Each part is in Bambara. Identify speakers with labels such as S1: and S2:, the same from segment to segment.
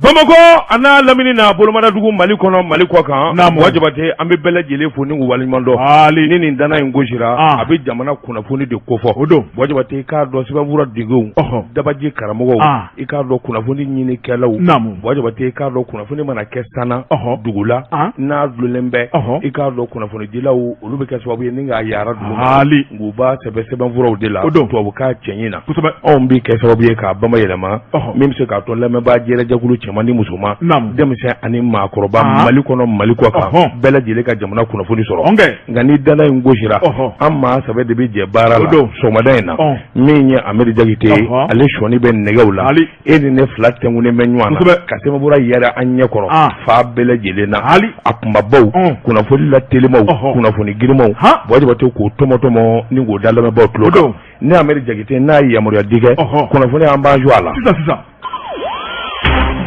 S1: Bamakɔ a n'a lamini n'a bolomadadugu mali kɔnɔ mali kɔ kan buwa jabate an bɛ bɛɛ lajɛlen fo ni k'u waleɲumandɔn hali ni nin ntanan in gosira a bɛ jamana kunnafoni de kofɔ o don buwa jabate i k'a dɔn sɛbɛnfuratigiw dabaji karamɔgɔw i k'a dɔn kunnafoni ɲini kɛlaw naamu buwa jabate i k'a dɔn kunnafoni mana kɛ san na o dugu la n'a dulonnen bɛ o i k'a dɔn kunnafonidilaw olu bɛ kɛ sababu ye ni k'a yara duguma u b'a sɛbɛn sɛbɛnfuraw de la o don tubabukan cɛɲi na kosɛbɛ anw bɛ kɛ sababu ye k'a bama yɛlɛma min bɛ se k'a to lamɛnbaa jɛrɛ jɛkulu cɛman ni musoman denmisɛn ani maakɔrɔba mali kɔnɔ mali kɔ kan bɛɛ lajɛlen ka jamana kunnafoni sɔrɔ nka ni ntanan in gosira an maa saba de bɛ jɛ baara la sɔgɔmada in na min ye ameri jakite ye ale sɔnin bɛ nɛgɛw la e ni ne fila tugunen bɛ ɲɔgɔn na ka sɛbɛnfura yara an ɲɛ kɔrɔ fan bɛɛ lajɛlen na hali a kunbabaw kunnafoni la telimaw kunnafoni girinmaw buwa jabate k'o tɔmɔtɔmɔ ni k'o da lamɛnbaw tulo dɔ ni ameri jakite n'a ye yamaruya di kɛ kunnafoni an b'an jɔ a la sisan
S2: sisan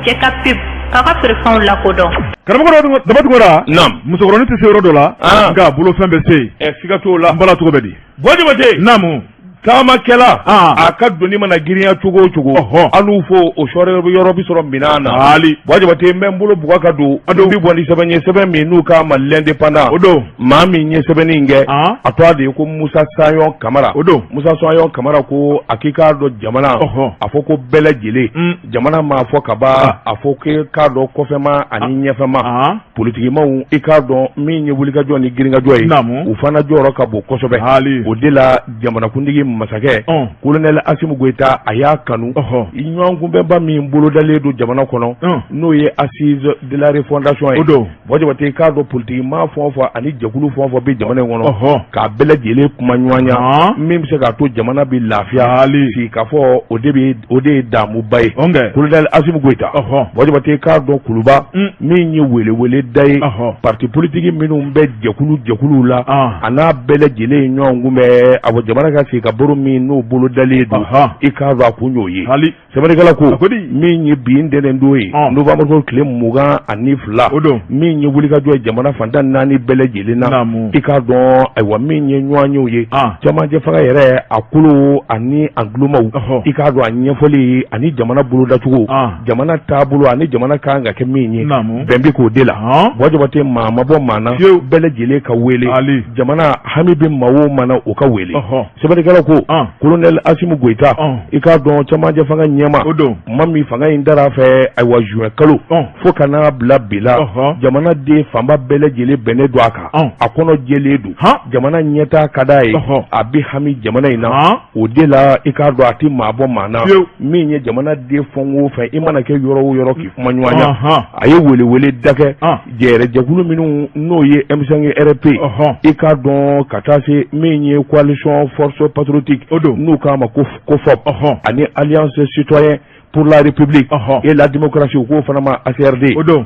S2: jɛkafɔ bɛ k'aw ka feerefɛnw lakodɔn karamɔgɔ daba
S1: tunkara naam musokɔrɔnin tɛ se yɔrɔ dɔ la nka bolofɛn bɛ se yen ɛ siga t'o la n bala cogo bɛ di buwa jabate naamu taamakɛla a ka doni mana girinya cogo o cogo anw fo o sɔri yɔrɔ bɛ sɔrɔ minɛn na hali buwa jabate n bɛ n bolo buga ka don o don n bɛ bɔ ni sɛbɛn ye sɛbɛn min n'u k'a ma l'indépendant o don maa min ye sɛbɛnni in kɛ a tɔgɔ de ye ko musa sayɔn kamara o don musa sayɔn kamara ko a k'i k'a dɔn jamana a fɔ ko bɛɛ lajɛlen jamana m'a fɔ ka ban a fɔ i k'a dɔn kɔfɛma ani ɲɛfɛma politigimaw i k'a dɔn min ye wulikajɔ ni girinkajɔ ye u fana jɔyɔrɔ ka bon kosɛbɛ o de la jamanakuntigi masakɛ kolonɛli asimu goyita a y'a kanu ɲɔgɔnkunbɛnba min bolodalen don jamana kɔnɔ n'o ye assises de la refondation ye o don buwa jabate i k'a dɔn politigima fɛn o fɛn ani jɛkulu fɛn o fɛn bɛ jamana in kɔnɔ k'a bɛɛ lajɛlen kuma ɲɔgɔnya min bɛ se k'a to jamana bɛ lafiya si k'a fɔ o de ye damuba ye kolonɛli asimu goyita buwa jabate i k'a dɔn kuluba min ye weleweleda ye pati politigi minnu bɛ jɛkulu jɛkuluw la a n'a bɛɛ lajɛlen ɲɔgɔnkunbɛn a jamana ka sigi ka baro min n'o bolo dalen don i k'a dɔn a kun y'o ye sɛbɛnnikɛla ko min ye bi ntɛnɛn don ye novembre o tile mugan ani fila o don min ye wulikajɔ ye jamana fan tan naani bɛɛ lajɛlen na i k'a dɔn ayiwa min ye ɲɔgɔnyew ye camancɛ fanga yɛrɛ a kolo ani a ntulomaw i k'a dɔn a ɲɛfɔli ani jamana bolodacogo jamana taabolo ani jamana kan ka kɛ min ye bɛn bɛ k'o de la buwa jabate maa ma bɔ maa na bɛɛ lajɛlen ka wele jamana hami bɛ maa o maa na o ka wele sɛbɛnnikɛla ko kolonɛli asimu goyita i k'a dɔn camancɛ fanga ɲɛmaa o don maa min fanga in dar'a fɛ ayiwa zuwɛn kalo fo ka n'a bila bi la jamanaden fanba bɛɛ lajɛlen bɛnnen don a kan a kɔnɔ jɛlen don jamana ɲɛtaa ka d'a ye a bɛ hami jamana in na o de la i k'a dɔn a tɛ maa bɔ maa na min ye jamana den fɛn o fɛn i mana kɛ yɔrɔ o yɔrɔ k'i kumaɲɔgɔnya a ye weleweleda kɛ jɛrɛjɛkulu minnu n'o ye m5 rp i k'a dɔn ka taa se min ye coalition force patriotique n'u k'a ma ko cofop ani alliance citoyenne pour la république et la démocratie u k'o fana ma acrd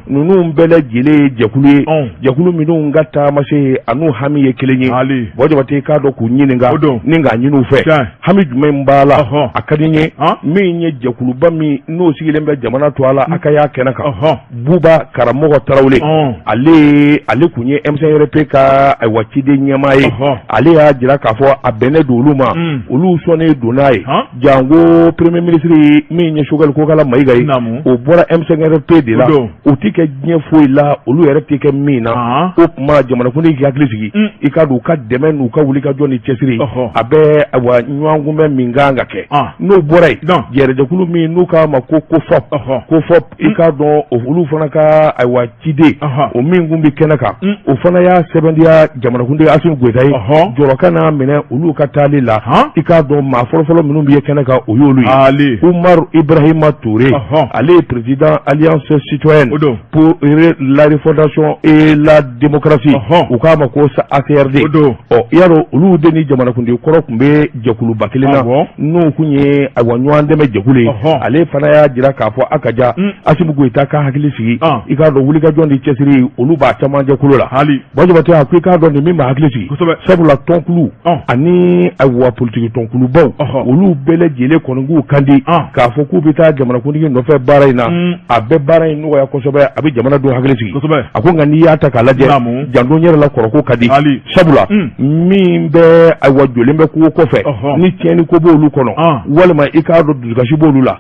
S1: ninnu bɛɛ lajɛlen ye jɛkulu ye jɛkulu minnu ka taamasen an'u hami ye kelen ye bɔ jabate k'a dɔn k'u ɲininka ni k'a ɲini u fɛ hami jumɛn in b'a la a ka di ye min ye jɛkuluba min n'o sigilen bɛ jamana tɔgɔ la a ka y'a kɛnɛ kan buba karamɔgɔ tarawele ale ale tun ye m5 rp ka ayiwa ciden ɲɛmaa ye ale y'a jira k'a fɔ a bɛnnen don olu ma olu sɔnnen don n'a ye jango premier ministre min ye choguel kokala mayiga ye o bɔra m5 rp de la o tɛ kɛ diɲɛ foyi la olu yɛrɛ tɛ kɛ min na o tuma jamanakuntigi k'i hakili sigi mm. i k'a dɔn u ka dɛmɛ n'u ka wulikajɔ ni cɛsiri a bɛ ayiwa ɲɔgɔn kunbɛn min kan ka kɛ n'o bɔra yen jɛrɛjɛkulu min n'u k'a ma ko cofop cofop i k'a dɔn olu fana ka ayiwa ciden o min tun bɛ kɛnɛ kan o fana y'a sɛbɛntiya jamanakuntigi asimi goyita ye jɔrɔ kan'a minɛ olu ka taali la i k'a dɔn maa fɔlɔfɔlɔ minnu bɛ ye kɛnɛ kan o y'olu ye umaru ibarahima ture ale ye président alliance citoyenne pour la refondation et la démocratie u k'a ma ko acrd i y'a dɔn olu de ni jamanakuntigi kɔrɔ tun bɛ jɛkuluba kelen na n'o tun ye ayiwa ɲɔgɔn dɛmɛ jɛkulu ye ale fana y'a jira k'a fɔ a ka ja mm. asimi goyita ka hakili sigi ah. i k'a dɔn wulikajɔ ni cɛsiri olu b'a caman jɛkulu la hali bɔ jabate a ko i k'a dɔn nin min b'a hakili sigi sabula tɔnkulu ah. ani ayiwa politiki tɔnkulubaw olu bɛɛ lajɛlen kɔni k'u kan di ah. k'a fɔ k'u bɛ taa jamanakuntigi nɔfɛ baara in na mm. a bɛ baara in nɔgɔya kosɛbɛ a bɛ jamanadenw hakili sigi a ko nka n'i y'a ta k'a lajɛ janto yɛrɛ la kɔrɔko ka di sabula min bɛ ayiwa jɔlen bɛ kogo kɔfɛ ni tiɲɛniko b'olu kɔnɔ walima i k'a dɔn dusukasi b' olu la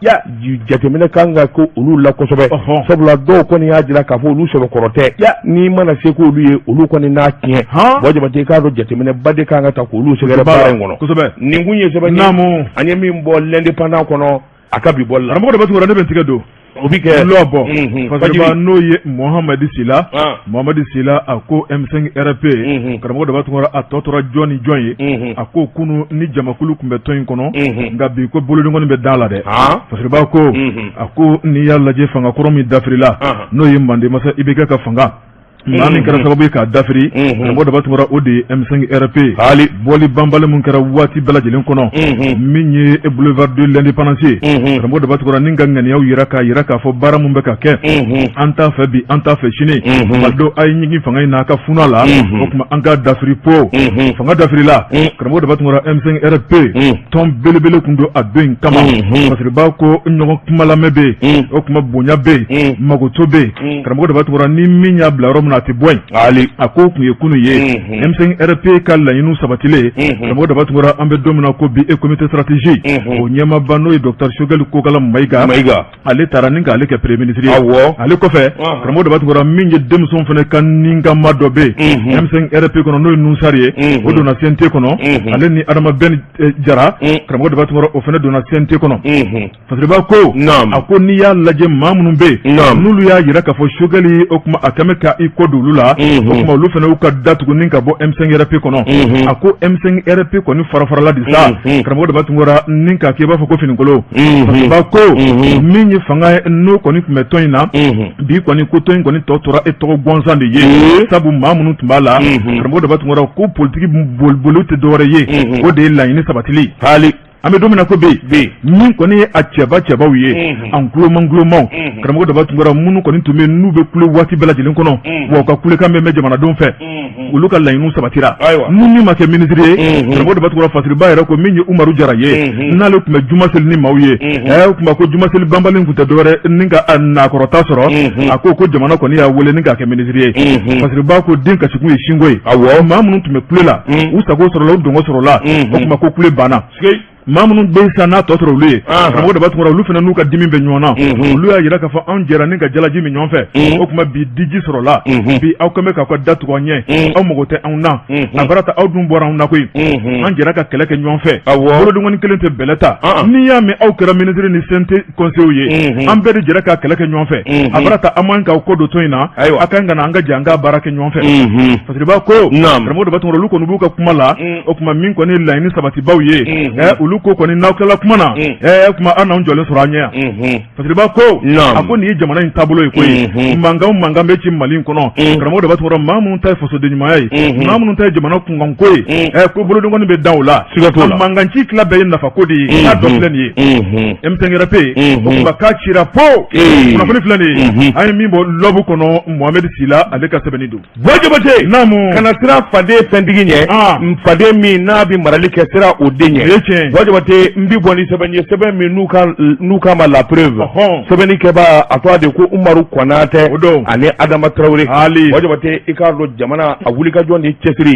S1: jateminɛ kan ka kɛ olu la kosɛbɛ sabula dɔw kɔni y'a jira k'a fɔ olu sɛbɛkɔrɔ tɛ n'i mana se ko olu ye olu kɔni n'a tiɲɛ bɔ jabate i k'a dɔn jateminɛba de kan ka ta k'olu sɛgɛrɛ baara in kɔnɔ nin kun ye sɛbɛn ye mm an ye min bɔ l'indépendant kɔnɔ a ka bi bɔli la karamɔgɔ daba tunkara ne bɛ n tigɛ don o bɛ kɛ lɔ bɔ Mhm. fasiriba n'o ye muhamadi sila Ah. muhamadi sila a ko m5 rp Mhm. karamɔgɔ daba tunkara a tɔ tora jɔn ni jɔn ye Mhm. a ko kunu ni jamakulu tun bɛ tɔn in kɔnɔ Mhm. nka bi ko bolodengɔni bɛ da la dɛ Ah. fasiriba ko Mhm. a ko n'i y'a lajɛ fanga kɔrɔ min dafirila Ahan. n'o ye manden masa ibk ka fanga maa min kɛra sababu ye k'a dafiri karamɔgɔ daba tunkara o de ye M5 RFP hali bɔli banbali min kɛra waati bɛɛ lajɛlen kɔnɔ min ye e boulevard de l'indépendance karamɔgɔ daba tunkara ni ka ŋaniyaw jira k'a jira k'a fɔ baara min bɛ ka kɛ an t'a fɛ bi an t'a fɛ sini malidenw a ye jigin fanga in n'a ka funa la o tuma an ka dafiri po fanga dafirila karamɔgɔ daba tunkara M5 RFP tɔn belebele tun don a don in kama fasiriba ko ɲɔgɔn kumalamɛ bɛ o tuma bonya bɛ magoto bɛ Mm. karamɔgɔ daba tunkara ni min y'a bila yɔrɔ min na a tɛ bɔ yen a ko tun ye kunu ye mm-hmm. M5 RFP ka laɲiniw sabatilen mm-hmm. karamɔgɔ daba tunkara an bɛ don min na ko bi e comité stratégie mm-hmm. o ɲɛmaaba n'o ye docteur sogɛli kokala mayiga ale taara ni k'ale kɛ premier minisiri ye ale kɔfɛ ah. karamɔgɔ daba tunkara min ye denmisɛnw fana ka ninkama dɔ bɛ yen M5 RFP kɔnɔ n'o ye nuhun sari ye o donna CNT kɔnɔ ale ni adama bɛn eh, jara karamɔgɔ daba tunkara o fana donna CNT kɔnɔ Fasiriba ko a ko n'i y'a lajɛ maa minnu bɛ yen n'olu y'a jira k'a fɔ sogɛli o tuma a kɛlen bɛ ka i kɔ don olu la o tuma olu fana y'u ka da tugu ni ka bɔ M5 RFP kɔnɔ a ko M5 RFP kɔni farafarala de sa karamɔgɔ daba tunkara ni k'a kɛ i b'a fɔ ko finikolon fasiriba ko min ye fanga ye n'o kɔni tun bɛ tɔn in na bi kɔni ko tɔn in kɔni tɔ tora e tɔgɔ gansan de ye sabu maa minnu tun b'a la karamɔgɔ daba tunkara ko politiki boliboli tɛ dɔwɛrɛ ye o de ye laɲini sabati an bɛ don min na ko bi min kɔni ye a cɛba cɛbaw ye an koloman kolomaw karamɔgɔ daba tunkara minnu kɔni tun bɛ n'u bɛ kule waati bɛɛ lajɛlen kɔnɔ wa u ka kulekan bɛ mɛn jamanadenw fɛ olu ka laɲiniw sabatira ni min ma kɛ minisiri ye karamɔgɔ daba tunkara fasiriba yɛrɛ ko min ye umaru jara ye n'ale tun bɛ juma seli ni maaw ye ɛ o tuma ko juma seli banbali tun tɛ dɔwɛrɛ ni ka nakɔrɔta sɔrɔ a ko ko jamana kɔni y'a weele ni k'a kɛ ba ko den kasikun ye sinko ye maa minnu tun bɛ kule la u sago sɔrɔla u dungɔ sɔrɔla o tuma ko kule banna maa minnu bɛ san n'a tɔ sɔrɔ olu ye karamɔgɔ daba tunkara olu fana n'u ka dimi bɛ ɲɔgɔn na olu y'a jira k'a fɔ anw jɛra ni ka jalaji min ɲɔgɔn fɛ o tuma bi diji sɔrɔla bi aw kɛlen bɛ k'aw ka da tugu an ɲɛ aw mago tɛ anw na a baara ta aw dun bɔra anw na koyi an jɛra ka kɛlɛ kɛ ɲɔgɔn fɛ bolodenkɔni kelen tɛ bɛlɛ ta n'i y'a mɛn aw kɛra minisiri ni CNT kɔnsew ye an bɛɛ de jɛra ka kɛlɛ kɛ ɲɔgɔn fɛ a baara ta aw man kan ka kɔ don tɔn in na a ka kan an ka jɛ an ka baara kɛ ɲɔgɔn fɛ fasiriba ko karamɔgɔ daba tunkara olu kɔni b'u ka kuma la o tuma min kɔni laɲini sabatibaw ye olu ko kɔni n'aw tilala kuma na o tuma aw n'an jɔlen sɔrɔ aw ɲɛ yan fasiriba ko a ko nin ye jamana in taabolo ye koyi mankan mankan bɛ ci mali in kɔnɔ karamɔgɔ daba tunkara maa minnu ta ye fasoden ɲumanya ye maa minnu ta jamana ko ye mm. eh, ko bolodɔnkɔni bɛ da o la mankanci tila bɛɛ ye nafa ko de ye mm-hmm. k'a dɔ filɛ nin ye mm-hmm. M5 RFP mm-hmm. ka k'a cira po kunnafoni filɛ nin ye an ye min bɔ L'Aube kɔnɔ mohamɛdi sila ale ka sɛbɛnni don Buwa Jabate naamu kana siran faden fɛntigi ɲɛ ah. faden min n'a bɛ marali kɛ siran o de ɲɛ Buwa Jabate n bi bɔ ni sɛbɛn ye sɛbɛn min n'u k'a ma La Preuve sɛbɛnni kɛbaa a tɔgɔ de ko umaru kɔnatɛ ani adama tarawele Buwa Jabate i k'a dɔn jamana a wulikajɔ ni cɛsiri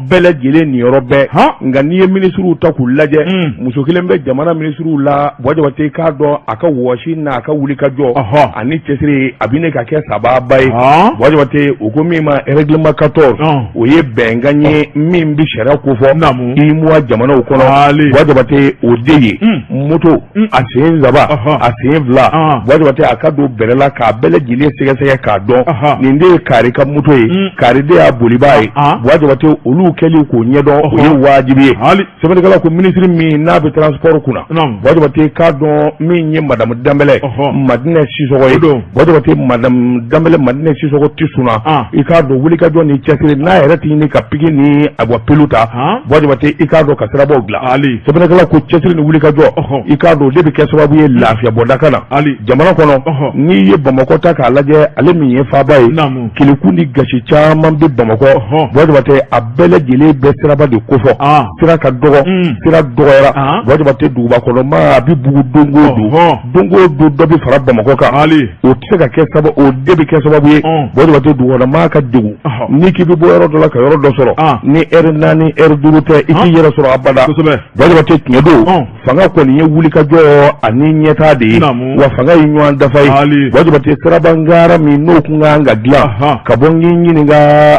S1: bɛɛ lajɛlen niyɔrɔ bɛɛ nka n'i ye minisiriw ta k'u lajɛ hmm. muso kelen bɛ jamana minisiriw la Buwa Jabate i k'a dɔn a ka wɔsi n'a ka wulikajɔ ani cɛsiri a bɛ ɲini ka kɛ sababa ye Buwa Jabate u ko min ma règlement 14 o ye bɛnkan ye min bɛ sariya kofɔ UEMOA jamanaw kɔnɔ Buwa Jabate o de ye hmm. moto mm. a sen saba a sen fila Buwa Jabate a ka don bɛrɛ la k'a bɛɛ lajɛlen sɛgɛsɛgɛ k'a dɔn nin de ye kari ka moto ye mm. kari de y'a bolibaa ye Buwa Jabate olu kɛli k'o ɲɛdɔn o ye wajibi ye sɛbɛnnikɛla ko minisiri min n'a bɛ transport kunna Buwa Jabate k'a dɔn min ye madamu danbɛlɛ madinɛ sisɔgɔ ye Buwa Jabate madamu danbɛlɛ madinɛ sisɔgɔ ti sunaa i k'a dɔn wulikajɔ ni cɛsiri n'a yɛrɛ tɛ ɲini ka piki ni awa pelu ta Buwa Jabate i k'a dɔn ka sirabaw dilan sɛbɛnnikɛla ko cɛsiri ni wulikajɔ i k'a dɔn de bɛ kɛ sababu ye lafiyaba de ka na jamana kɔnɔ n'i ye bamakɔ ta k'a lajɛ ale min ye faaba ye keleku ni gasi caman bɛ bamakɔ Buwa Jabate a bɛɛ lajɛlen bɛ siraba de kofɔ sira ka dɔgɔ sira dɔgɔyara Buwa Jabate duguba kɔnɔ maa a bɛ bugun don o don don o don dɔ bɛ fara bamakɔ kan hali o tɛ se ka kɛ sababu o de bɛ kɛ sababu ye Buwa Jabate dugukɔnɔmaa ka degun n'i k'i bɛ bɔ yɔrɔ dɔ la ka yɔrɔ dɔ sɔrɔ ni eri naani eri duuru tɛ i t'i yɛrɛ sɔrɔ abada Buwa Jabate tiɲɛ don fanga kɔni ye wulikajɔ ani ɲɛtaa de ye wa fanga ye ɲɔgɔn dafa ye Buwa Jabate sirabangara min n'o kun kan ka dilan ka bɔ n k'i ɲininka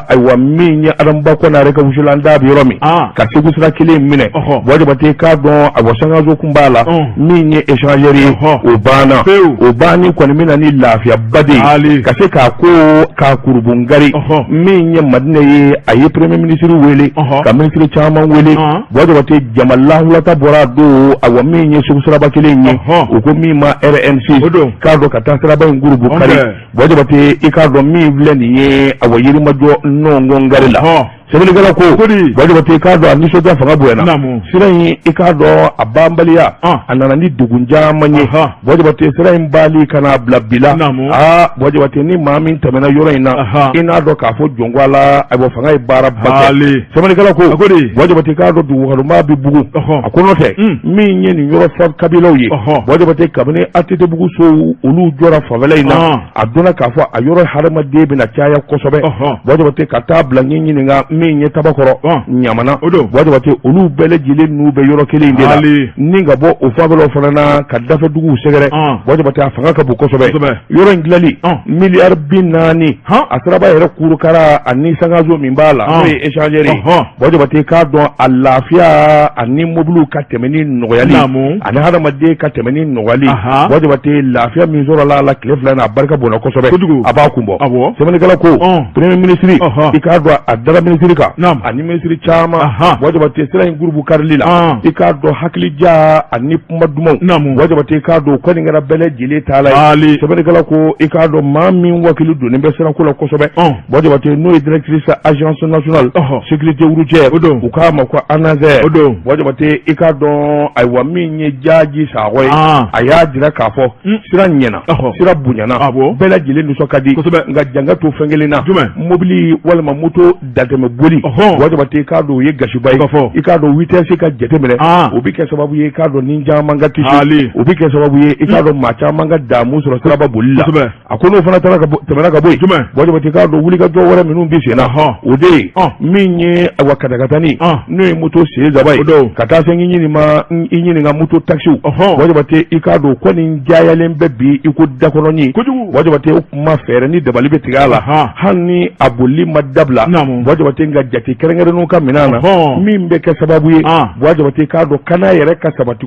S1: ayiwa min ye Adamu Ba Konare ka wusulan daa bɛ yɔrɔ min ka segu sira kelen minɛ Buwa Jabate k'a dɔn awa sankanso b'a la min ye échangeur ye o banna o banni kɔni bɛ na ni lafiyaba de ye ka se k'a ko k'a kurunbɔnkari min ye Madina ye a ye premier ministre wele ka ministre caman wele Buwa Jabate jama lahulata bɔra a don awa min ye Segu siraba kelen ye u ko min ma RN6 k'a dɔn ka taa siraba in kurunbɔnkari Buwa Jabate i k'a dɔn min filɛ nin ye awa yirimajɔ nɔngɔn gari la. sɛbɛnnikɛla ko Buwa Jabate i k'a dɔn a nisɔndiya fanga bonyana sira in i k'a dɔn a banbaliya a nana ni degun caman ye Buwa Jabate sira in bali ka n'a bila bi la aa Buwa Jabate ni maa min tɛmɛna yɔrɔ in na i n'a dɔn k'a fɔ jɔn ko Ala ayiwa fanga ye baara ba kɛ sɛbɛnnikɛla ko Buwa Jabate i k'a dɔn dugukɔnɔmaa bɛ bugun a ko n'o tɛ min ye nin yɔrɔ fɔ kabilaw ye Buwa Jabate kabini ATT bugu sow olu jɔra fanfɛla in na. a dɔnna k'a fɔ a yɔrɔ hadamaden bɛna caya kosɛbɛ Buwa Jabate ka taa bila ɲɛ ɲininka min ye tabakɔrɔ ɲamana Buwa Jabate olu bɛɛ lajɛlen n'u bɛ yɔrɔ kelen de la ni ka bɔ o fanfɛlaw fana na ka dafe dugu sɛgɛrɛ Buwa Jabate a fanga ka bon kosɛbɛ yɔrɔ in dilanli miliyari bi naani a siraba yɛrɛ kurukara ani sankaso min b'a la n'o ye échangeur ye Buwa Jabate k'a dɔn a lafiya ani mobili ka tɛmɛni nɔgɔyali ani hadamaden ka tɛmɛni nɔgɔyali Buwa Jabate lafiya min sɔrɔla a la tile fila in na a barika bonna kosɛbɛ a b'a kun bɔ sɛbɛnnikɛla ko premier minisiri i k'a dɔn a dara minisiri kan ani minisiri caman Buwa Jabate sira in kurunbonkarili la i k'a dɔn hakilija ani kuma dumanw Buwa Jabate i k'a dɔn kɔni kɛra bɛɛ lajɛlen taalan ye sɛbɛnnikɛla ko i k'a dɔn maa min wakili donnen bɛ sirako la kosɛbɛ Buwa Jabate n'o ye directrice agence nationale sécurité routière u k'a ma ko ANASER Buwa Jabate i k'a dɔn ayiwa min ye Jaji Sakɔ ye a y'a jira k'a fɔ sira ɲɛna sira bonyana bɛɛ lajɛlen nisɔn ka di nka jan ka to fɛn kelen na mobili walima moto datɛmɛ boli Buwa Jabate i k'a dɔn o ye gasiba ye i k'a dɔn vitesse ka jateminɛ o bɛ kɛ sababu ye i k'a dɔn ni caman ka kisi o bɛ kɛ sababu ye i k'a dɔn maa caman ka damu sɔrɔ siraba boli la a ko n'o fana taara tɛmɛna ka bɔ yen Buwa Jabate i k'a dɔn wulikajɔ wɛrɛ minnu bɛ sen na o de ye min ye awa katakatani n'o ye moto sen saba ye ka taa se ɲini ma i ɲininka moto takisiw Buwa Jabate i k'a dɔn ko nin cayalen bɛ bi i ko dakɔnɔnin Buwa Jabate o kuma fɛɛrɛ ni dabali bɛ tigɛ a la hali ni a bolili ma dabila Buwa Jabate nka jate kɛrɛnkɛrɛnnenw ka minɛ a la min bɛ kɛ sababu ye Buwa Jabate i k'a dɔn kana yɛrɛ ka sabati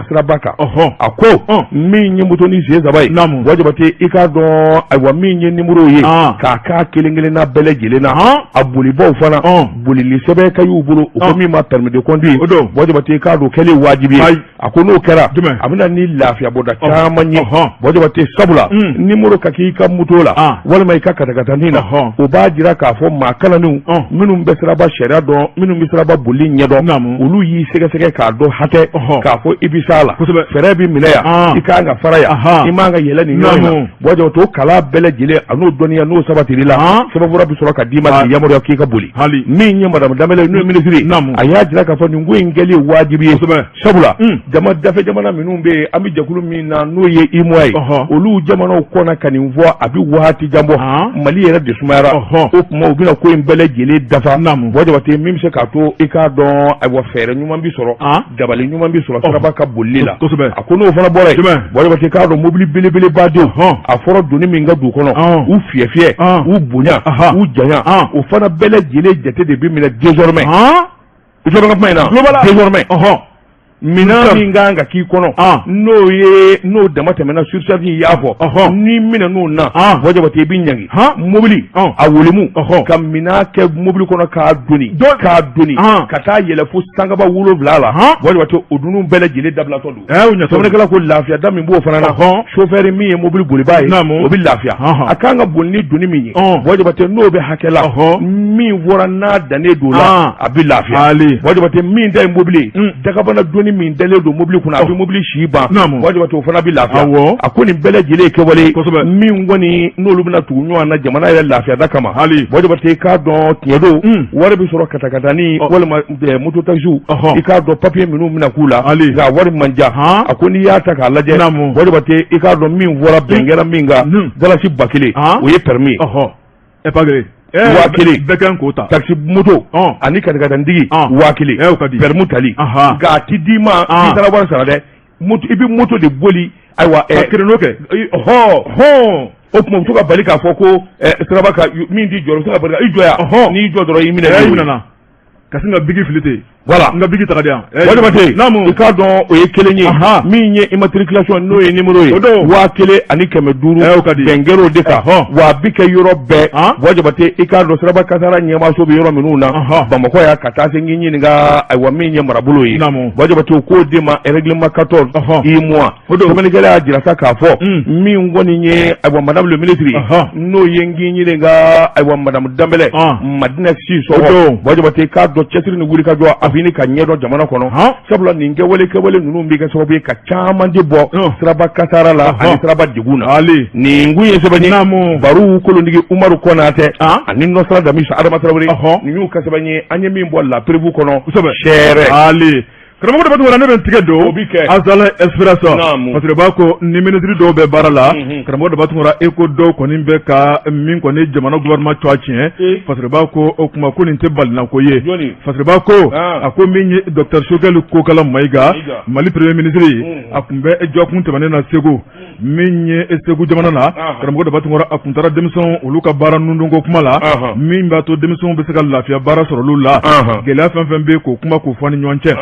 S1: siraba kan a ko min ye moto ni sen saba ye Buwa Jabate i k'a dɔn ayiwa min ye numéro ye ka k'a kelen kelenna bɛɛ lajɛlen na a bolibaw fana bolili sɛbɛn ka y'u bolo u ko min ma permis de conduire Buwa Jabate i k'a dɔn kɛlen wajibi ye a ko n'o kɛra a bɛna ni lafiya bɔda caman ye Buwa Jabate sabula numéro ka k'i ka moto la walima i ka katakatani na o b'a jira k'a fɔ maa kalannenw minnu bɛ siraba sariya dɔn minnu bɛ siraba boli ɲɛdɔn olu y'i sɛgɛsɛgɛ k'a dɔn hatɛ k'a fɔ i bɛ s'a la frein bɛ minɛ yan i ka kan ka fara yan i man ka yɛlɛ nin yɔrɔ in na Buwa Jabate o kalan bɛɛ lajɛlen a n'o dɔnniya n'o sabatira i la sɛbɛnfura bɛ sɔrɔ ka d'i ma k'i yamaruya k'i ka boli min ye madame Danbɛlɛ n'o ye minisiri a y'a jira k'a fɔ nin ko in kɛli ye wajibi ye sabula jama dafɛ jamana minnu bɛ yen an bɛ jɛkulu min na n'o ye UEMOA ye olu jamanaw kɔnna ka nin fɔ a bɛ waati jan bɔ Mali yɛrɛ de sumayara o tuma u bɛna ko in bɛɛ lajɛlen dafa Buwa Jabate min bɛ se k'a to i k'a dɔn ayiwa fɛɛrɛ ɲuman bɛ sɔrɔ dabali ɲuman bɛ sɔrɔ siraba ka bolili la a ko n'o fana bɔra yen Buwa Jabate k'a dɔn mobili belebeleba don a fɔra doni min ka d'u kɔnɔ u fiyɛ fiyɛ u bonya u janya o fana bɛɛ lajɛlen jate de bɛ minɛ désormais I tulo bɛ n ka kuma in na? N tulo b'a la. Désormais Ɔhɔn. Minɛn Sisan. min ka kan ka k'i kɔnɔ. An. N'o ye n'o dama tɛmɛna surcharge in i y'a fɔ. Ɔhɔn. N'i minɛn'o na. An. Buwa Jabate i bɛ ɲangi. Han. Mobili. Ɔn. A wolomu. Ɔhɔn. Ka minɛn kɛ mobili kɔnɔ k'a doni. Dɔ- K'a doni. An. Ka taa yɛlɛ fo sangaba wolonwula la. Han. Buwa Jabate o dunun bɛɛ lajɛlen dabilatɔ don. ɛ u ɲɛtɔ sɛbɛnnikɛla ko lafiya da min b'o fana na Ɔhɔn. sofɛri min ye mobili bolibaa ye Naamu. o bɛ lafiya Ɔhɔn. a kan ka boli ni doni min ye Ɔn. buwa jabate n'o bɛ hakɛ la Ɔhɔn. min fɔra n'a dannen don o la An. a bɛ lafiya Ali. buwa jabate min ta ye mobili ye Mm. dagabana doni min dalen don mobili kunna a bɛ mobili si ban Naamu. buwa jabate o fana bɛ lafiya Awɔ. a ko nin bɛɛ lajɛlen ye kɛwale ye Kosɛbɛ. min kɔni n'olu bɛna tugu ɲɔgɔn na jamana yɛrɛ lafiya da kama Ali. buwa jabate k'a dɔn tiɲɛ don Mm. wari bɛ sɔrɔ katakatani Ɔ. walima moto taxi i k'a dɔn papiye minnu bɛna k'u la nka wari man ca a ko n'i y'a ta k'a lajɛ buwa jabate i k'a dɔn min fɔra bɛn kɛra min kan dalasi ba kelen o ye permis ye waa kelen bɛɛ kan k'o ta taxi moto ani katakatanitigi waa kelen permis tali nka a tɛ d'i ma i taara wari sara dɛ i bɛ moto de boli ayiwa kelen'o kɛ hɔn hɔn o tuma u to ka bali k'a fɔ ko siraba min t'i jɔ u to ka bali i jɔ yan n'i jɔ dɔrɔn i minɛ i minɛ ka sin ka biki fili ten voilà n ka biki ta ka di yan buwa jabate naamu i k'a dɔn o ye kelen ye min ye immatriculation n'o ye numéro ye o don waa kelen ani kɛmɛ duuru ɛɛ o ka di bɛn kɛr'o de kan wa a bi kɛ yɔrɔ bɛɛ buwa jabate i k'a dɔn siraba kasara ɲɛmaaso bɛ yɔrɔ minnu na bamakɔ yan ka taa se n k'i ɲininka ayiwa min ye marabolo ye naamu buwa jabate o k'o de ma règlement 14 UEMOA o don sɛbɛnnikɛla y'a jira sa k'a fɔ mm. min kɔni ye ayiwa madame le ministre n'o ye n k'i ɲininka ayiwa madame danbɛlɛ ah. madina sisɔkɔ buwa jabate k'a dɔn cɛsiri ni wuli ka jɔ a fini ka ɲɛdɔn jamana kɔnɔ sabula nin kɛwale kɛwale ninnu bɛ kɛ sababu ye ka caman de bɔ ah. siraba kasara la ani siraba degun na nin kun ye sɛbɛn baru kolontigi umaru kɔnatɛ ah. ani nɔsira damisi adama tarawele nin y'u ka sɛbɛn ye an ye min bɔ La Preuve kɔnɔ seere Karamɔgɔ daba tunkara ne bɛ n tigɛ don o bɛ kɛ Azalaï Express fasiriba ko ni minisiri dɔw bɛ baara la karamɔgɔ daba tunkara e ko dɔw kɔni bɛ ka min kɔni jamana gouvernement tɔgɔ tiɲɛ fasiriba ko o tuma ko nin tɛ balinako ye fasiriba ko a ko min ye docteur sogɛli kokala mayiga mali premier ministre a tun bɛ jɔkun tɛmɛnen na segu min ye segu jamana na karamɔgɔ daba tunkara a tun taara denmisɛnw olu ka baara nundonko kuma la min b'a to denmisɛnw bɛ se ka lafiya baara sɔrɔ olu la gɛlɛya fɛn fɛn bɛ k'o kuma k'o fɔ ni ɲɔgɔn cɛ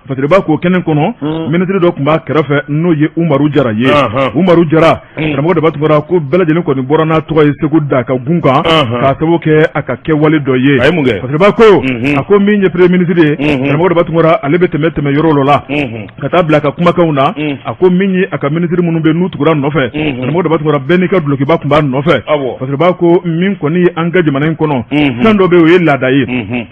S1: fasiriba ko kɛnɛ kɔnɔ hmm. minisiri dɔ tun b'a kɛrɛfɛ n'o ye umaru jara ye umaru jara hmm. karamɔgɔ daba tunkara ko bɛɛ lajɛlen kɔni bɔra n'a tɔgɔ ye segu da ka gun kan k'a sababu kɛ a ka kɛwale dɔ ye fasiriba ko hmm. a ko min ye premier ministre ye karamɔgɔ daba tunkara ale bɛ tɛmɛ tɛmɛ yɔrɔ dɔ la ka taa bila a ka kumakanw na a ko min ye a ka minisiri minnu bɛ n'u tugura nɔfɛ karamɔgɔ daba tunkara bɛɛ n'i ka dulokiba tun b'a nɔfɛ parce que b'a ko min kɔni ye an ka jamana in kɔnɔ fɛn dɔ bɛ o ye laada ye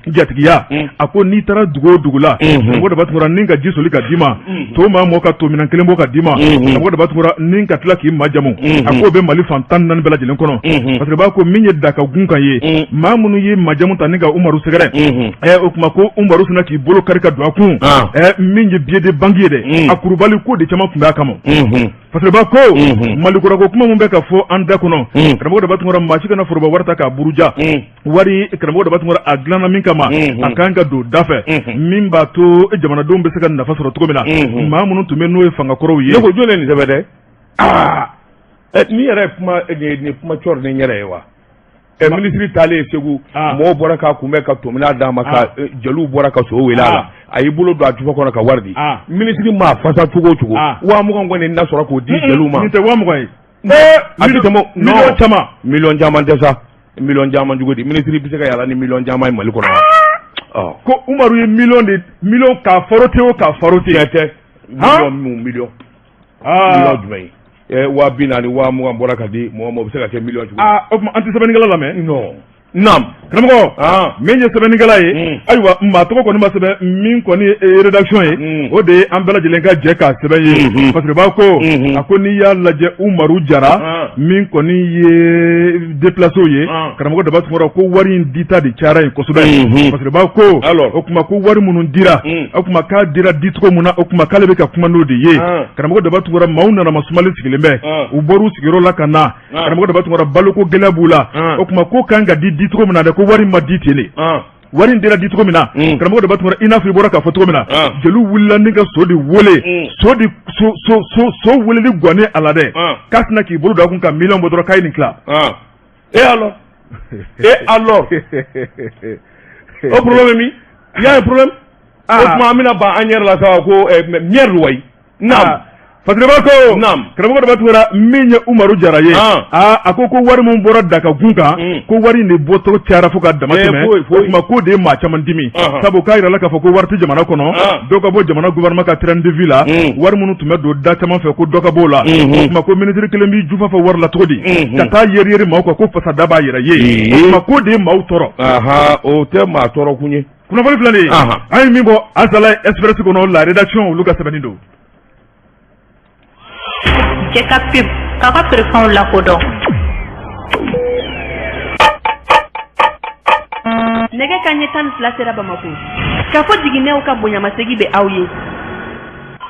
S1: jatigiya a ko n'i taara dugu o dugu la karamɔgɔ daba tunkara ni ka ji soli ka d'i ma to maa mɔ ka tominɛn kelen bɔ ka d'i ma karamɔgɔ daba tunkara ni ka tila k'i majamu a k'o bɛ mali fan tan naani bɛɛ lajɛlen kɔnɔ parce que b'a ko min ye daka gun kan ye maa minnu ye majamu ta ni ka umaru sɛgɛrɛ Ɛ o tuma ko Umaru sinna k'i bolo kari ka don a kun, an, ɛ min ye billet de banque ye dɛ, un, a kurubali ko de caman tun b'a kama, unhun, parce que b'a ko, unhun, Mali kura ko kuma min bɛ ka fɔ an da kɔnɔ, un, karamɔgɔ Daba Tunkara maa si kana foroba wari ta k'a buruja, un, wari karamɔgɔ Daba Tunkara a dilanna min kama, unhun, a ka kan ka don da fɛ, unhun, min b'a to jamanadenw bɛ se ka nafa sɔrɔ cogo min na, unhun, maa minnu tun bɛ n'o ye fanga kɔrɔw ye, ne ko jɔni ye nin sɛbɛn dɛ, aa, ɛ nin yɛrɛ ye kuma nin ye kuma cɔri ni n yɛrɛ ye wa Ɛ minisiri taalen segu mɔgɔw bɔra k'a kunbɛn ka tominɛn d'a ma ka jeliw bɔra ka so wele a la a y'i bolo don a jufa kɔnɔ ka wari di minisiri maa fasa cogo o cogo waa mugan kɔni na sɔrɔ k'o di jeliw ma waa mugan ye a tɛ miliyɔn caman miliyɔn caman tɛ sa miliyɔn caman cogo di minisiri bɛ se ka yaala ni miliyɔn caman ye mali kɔnɔ ko umaru ye miliyɔn de miliyɔn ka farote o ka farote tɛ miliyɔn aa jumɛn ye waa bi naani waa mugan bɔra ka di mɔgɔ ma o bɛ se ka kɛ miliyɔn cogo aa o tuma an tɛ sɛbɛnnikɛla lamɛn non naam karamɔgɔ min ye sɛbɛnnikɛla ye hmm. ayiwa maa tɔgɔ kɔni ma sɛbɛn min kɔni ye eh, rédaction ye hmm. o de ye an bɛɛ lajɛlen ka jɛ k'a sɛbɛn ye hmm. parce que b'a ko a ko n'i y'a lajɛ Umaru Jara min kɔni ye déplacéw ye karamɔgɔ daba tunkara ko wari in dita de cayara yen kosɛbɛ parce que b'a ko o tuma ko wari minnu dira o tuma k'a dira dicogo min na o tuma k'ale bɛ ka kuma n'o de ye karamɔgɔ daba tunkara maaw nana masumalen sigilen bɛ u bɔr'u sigiyɔrɔ la ka na karamɔgɔ daba tunkara baloko gɛlɛya b'u la o tuma k'o kan ka di dicogo min na dɛ ko wari ma di ten wari in dira di cogo min na mm. karamɔgɔ daba tunkara i n'a fɔ i bɔra k'a fɔ cogo min na ah. jeliw wulila ni ka so de wele mm. so de so so so so weleli gɔnnen a la dɛ ah. k'a sinna k'i bolo don a kun ka miliyɔn bɔ dɔrɔn k'a ye nin tila ah. et alors et alors o problème ye min il y a un problème o tuma an bɛna ban an yɛrɛ la sa ko eh, merde wayi naamu Fatiriba ko naamu karamɔgɔ Daba Tunkara min ye Umaru Jara ye aa aa a ko ko wari min bɔra Daga gun kan Un. ko wari in de bɔtɔ cayara fo ka dama Ee, tɛmɛ foyi, foyi. o tuma k'o de ye maa caman dimi Ɔhɔn. sabu k'a yirala k'a fɔ ko wari tɛ jamana kɔnɔ Ɔn. dɔ ka bɔ jamana gouvernement ka train de vie la Un. wari minnu tun bɛ don da caman fɛ ko dɔ ka b'o la Mhm. o tuma ko ministre kelen b'i jufa fa wari la cogo di Mhm. ka taa yeri yeri maaw kan ko fasada b'a yɛrɛ ye Ee. o tuma k'o de ye maaw tɔɔrɔ aha o tɛ maa tɔɔrɔ kun ye Kunnafoni filɛ nin ye, anhan, an ye min bɔ Azalaï Express kɔnɔ la rédaction olu ka sɛbɛnni
S2: don Jɛkafɔ k'a ka feerefɛnw lakodɔn Nɛgɛ kanɲɛ tan ni fila sera Bamakɔ, Kafo Jiginɛw ka bonyamasegin bɛ aw ye.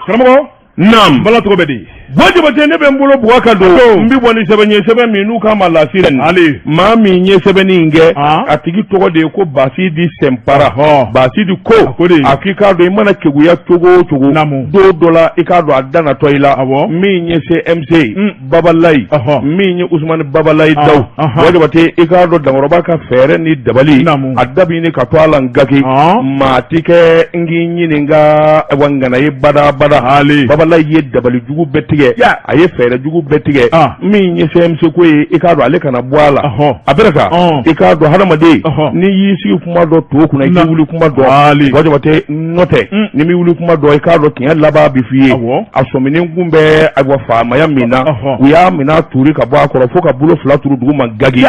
S2: Karamɔgɔ
S1: Naamu bala tɔgɔ bɛ di buwa jabate ne bɛ n bolo bug ka don n bɛ bɔ ni sɛbɛn ye sɛbɛn min n'u k'a ma La Sirène ale maa min ye sɛbɛnni in kɛ a tigi tɔgɔ de ye ko basidi senpara basidi ko a k'i k'a dɔn i mana keguya cogo o cogo don dɔ la i k'a dɔn a dangatɔ i la a min ye CMC babalayi min ye usumani babalayi ah, dawu ah, ah. buwa jabate i k'a dɔn dankɔrɔba ka fɛɛrɛ ni dabali a dabi ni ka to a la n gaki maa ti kɛ n k'i ɲininka wa ŋana ye badabada babalayi ye dabali jugu bɛɛ tigɛ a ye fɛɛrɛ jugu bɛɛ tigɛ min ye CMC ko ye i k'a dɔn ale kana bɔ a la a bɛrɛ ka i k'a dɔn hadamaden n'i y'i sigi kuma dɔn tɔw kunna i k'i wuli kuma dɔn buwa jabate nɔntɛ n'i m'i wuli kuma dɔn i k'a dɔn tiɲɛ laban bɛ f'i ye a sɛmɛnen kun bɛ ayiwa faamaya min na u y'a minɛ tuuru ka bɔ a kɔrɔ fo k'a bolo fila turu dugu ma gage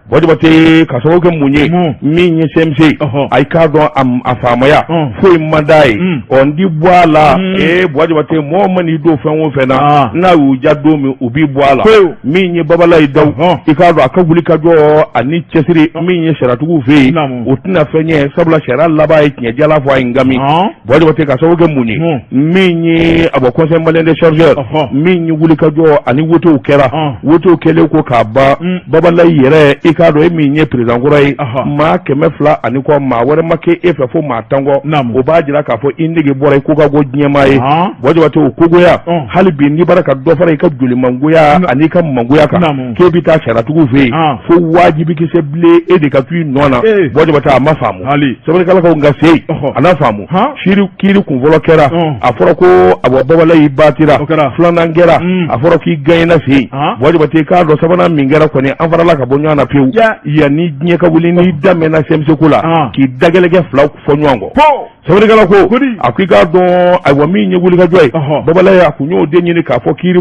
S1: buwa jabate ka sababu kɛ mun ye min ye CMC a i k'a dɔn a faamaya foyi man d'a ye ɔ n di bɔ a la ee buwa jabate mɔgɔ man'i don fɛn o fɛn na n'a y'u ja don min u b'i bɔ a la min ye babalayi dawu i k'a dɔn a ka wulikajɔ ani cɛsiri min ye sariyatigiw fɛ yen o tɛna fɛn ɲɛ sabula sariya laban ye tiɲɛ jala fɔ a ye ngami buwa jabate ka sababu kɛ mun ye min ye a bɔ conseil malien des chargeurs min ye wulikajɔ ani wotew kɛra wotew kɛlen kɔ ka ban mm. babalayi yɛrɛ i k'a dɔn e min ye président kɔrɔ ye maa kɛmɛ fila ani kɔ maa wɛrɛ ma kɛ e fɛ fo maa tan kɔ o b'a jira k'a fɔ i nege bɔra i ko ka go diɲɛmaa ye buwa jabate o kogoya hali bi n'i bara ka dɔ fara i ka jolimangoya ani i ka mangoya kan k'e bɛ taa sariyatigiw fɛ yen ah. fo wajibi kisɛ bilen e de ka to i nɔ na eh. buwa jabate a ma faamu sɛbɛnnikɛla ko a ka se yen a n'a faamu kiiri kiiri kun fɔlɔ kɛra a fɔra ko a bɔ babalayi batira filanan kɛra hmm. a fɔra k'i ganyina fɛ yen buwa jabate k'a dɔn sabanan min kɛra kɔni an farala ka bɔ ɲɔgɔn na pewu yanni diɲɛ ka wuli n'i daminɛna CMC ko la k'i dagɛlɛkɛ fila fɔ ɲɔgɔn kɔ Sɛbɛnnikɛla ko a ko i k'a dɔn ayiwa min ye wulikajɔ ye babalayi a kun y'o de ɲini k'a fɔ kiiri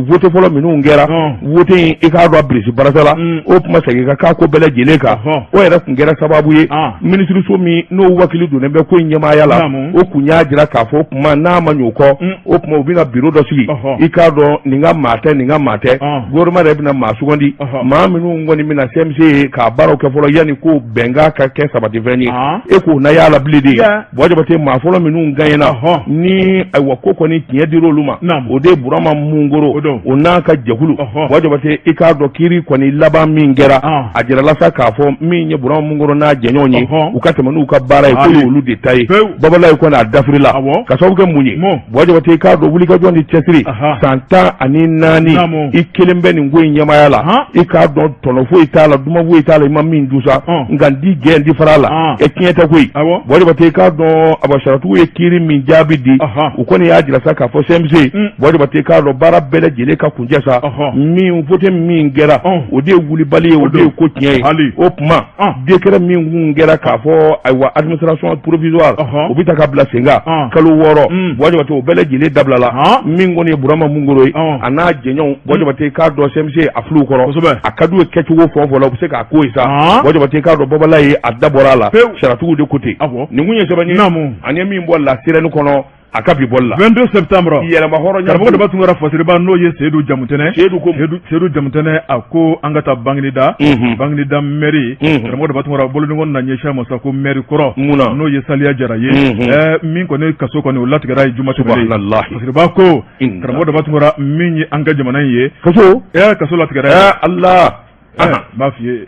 S1: wote fɔlɔ minnu kɛra wote in i k'a dɔn bilisi barasa la mm. o tuma segin ka k'a ko bɛɛ lajɛlen kan o yɛrɛ tun kɛra sababu ye minisiriso min n'o wakili donnen bɛ ko in ɲɛmaaya la o kun y'a jira k'a fɔ o tuma n'a ma ɲɛ o kɔ mm. o tuma u bɛna biro dɔ sigi i k'a dɔn nin ka maa tɛ nin ka maa tɛ gouvernement yɛrɛ bɛna maa sugandi maa minnu kɔni bɛna CMC ka baaraw kɛ fɔlɔ yanni ko bɛnkan ka kɛ sabatifɛn ye e k'o na y'a la bilen dɛ Buwa Jabate maa fɔlɔ minnu gaɲɛna ni ayiwa ko kɔni tiɲɛ dira olu ma o de ye Burama Mungoro o n'a ka jɛkulu Buwa Jabate i k'a dɔn kiri kɔni laban min kɛra a jirala sa k'a fɔ min ye Burama Mungoro n'a jɛɲɔgɔn ye u ka tɛmɛ n'u ka baara ye k'o y'olu de ta ye Babalayi kɔni a dafirila k'a sababu kɛ mun ye Buwa Jabate i k'a dɔn wuli ka jɔ ni cɛsiri san tan ani naani i kelen bɛ nin ko in ɲɛmaya la i k'a dɔn tɔnɔ foyi t'a la duman foyi t'a la i ma min dun sa nka n tɛ jɛn n tɛ fara a la e tiɲɛ tɛ koyi Buwa Jabate i k'a dɔn ayiwa sariyatigiw ye kiri min jaabi di u kɔni y'a jira sa k'a fɔ CMC Buwa Jabate i k'a dɔn baara bɛɛ lajɛlen ka kuncɛ sa min vote min kɛra o de ye wulibali ye o de ye ko tiɲɛ ye o tuma Décret min kun kɛra k'a fɔ ayiwa administration provisoire o bɛ ta ka bila sen kan kalo wɔɔrɔ Buwa Jabate o bɛɛ lajɛlen dabilala min kɔni ye Burama Mungoro ye a n'a jɛɲɔgɔnw Buwa Jabate i k'a dɔn CMC a fil'u kɔrɔ a ka d'u ye kɛcogo fɛn o fɛn la u bɛ se k'a k'o ye sa Buwa Jabate i k'a dɔn Babalayi a da bɔra a la sariyatigiw de ko ten nin kun ye sɛbɛn ye an ye min bɔ La Sirène kɔnɔ a ka bi bɔli la 22 septembre yɛrɛmahɔrɔnya karamɔgɔ daba tunkara fasiriba n'o ye seyidu jamutɛnɛ seyidu jamutɛnɛ a ko an ka taa banginida mhm. banginida mɛri mhm. karamɔgɔ daba tunkara boloɲɔgɔn na ɲɛsin a ma sa ko mɛri kɔrɔ n'o ye saliya jara ye mhm. ɛɛ min kɔni kaso kɔni o latigɛra a ye juma tɛmɛnen na fasiriba ko karamɔgɔ daba tunkara min ye an ka jamana in ye kaso ɛɛ kaso latigɛra a ye ala n b'a f'i ye